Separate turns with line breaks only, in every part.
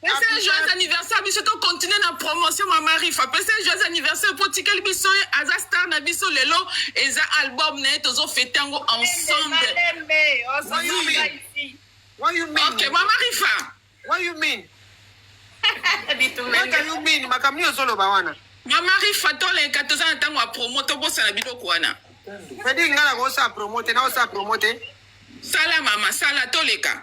pese joyeux
anniversaire biso to continue na promotion ma marifa pese joyeux anniversaire po tikeli biso ye aza star na biso lelo eza album na ye tozo fete yango ensemble
ok ma marifa
what you mean
what you mean makambo nini ozoloba wana ma marifa
toleka toza na ntango ya promo tobosana biloko wana edi ngai
nakosala promo te nakosala promo te sala mama
sala toleka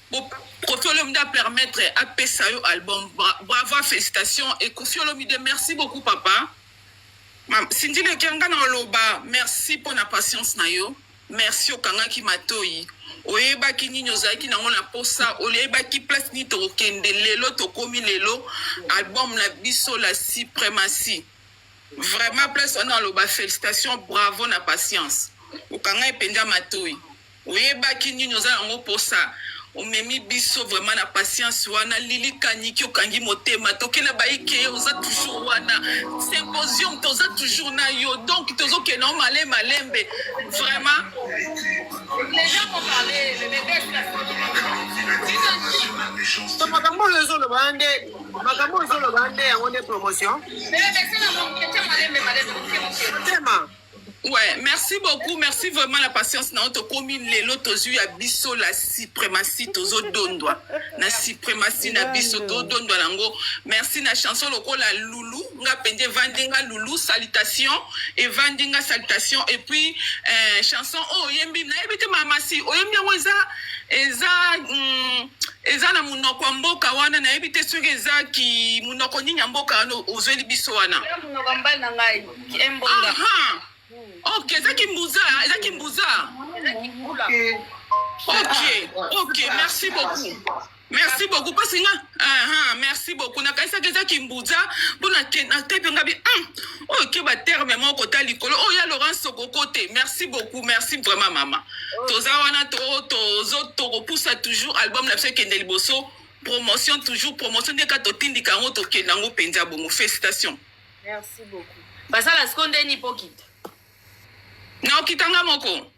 Bo Koffi Olomide a permettre apesa yo album. Bra- Bravo, félicitations. Et Koffi Olomide, merci beaucoup, papa. Ma- Cindy Lekianga na oloba, merci mpo na patience na yo. Merci okangaki matoyi. Oyebaki nini ozalaki nango na posa, oyebaki place nini tokokende lelo tokomi lelo album na biso la suprematie. Vraiment place wana aloba félicitations, bravo na patience. Okangai mpenza matoyi. Oyebaki nini oza nango posa omemi biso vraiment na patience wana lili kaniki okangi motema tokela baike oza toujours wana symposium toza toujours na yo donc tozokenda o male malembe vraiment makambo
oyo ezoloba nde
makambo oyo ezoloba nde yango nde promotion motema Ouais,
merci beaucoup, merci vraiment la patience na oto komi lelo tozu ya biso la suprematie tozo dondwa na suprematie na biso to dondwa nango. Merci na chanson lokola Loulou, nga pende vandinga Loulou salutation et vandinga salutation et puis euh, chanson oh yembi na yebite mama si oyembi yango eza eza mm, eza na monoko ya mboka wana nayebi te soki eza ki monoko nini ya mboka wana ozweli biso wana
Embonga.
Ok, eza kimbuza, eza kimbuza. Ok, ok, merci beaucoup. merci beaucoup mpasi nga aha merci beaucoup nakanisaki eza kimbuza mpo natepe nga bi hmm, oyo ke baterme moko ta likolo oyo oh, ya laurence okoko te merci beaucoup merci vraiment mama toza wana tokopusa toujours album na biso ekende liboso promotion toujours promotion nde kaka totindika yango tokende yango mpenza bongo félicitation Merci beaucoup.
Basala siko nde ni pokita.
Na okita nga moko.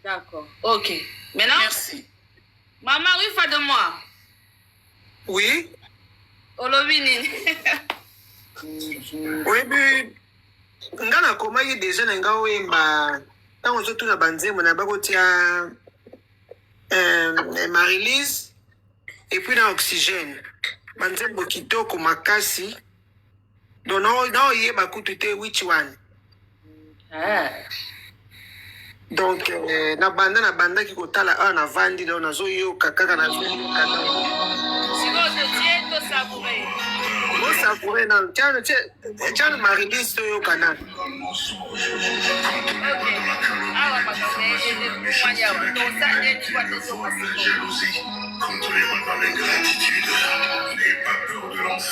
D'accord.
Ok. Maintenant. Merci.
Maman, oui,
fa de moi. Oui. Olobi nini?
Oyebi nga nakomaki deja na nga oyemba ntango ozotuna banzembo na bakotia euh, marilise epuis na oxygène banzembo kitoko makasi Non, non, non, il est bakutu te, which one? Ah. donc euh, na banda na banda ki kotala awa na vandi donc nazoyoka kaka na osakoure nanu can
marilise toyoka
nanu Contre les balles, l'ingratitude, n'aie pas peur de
l'enfer.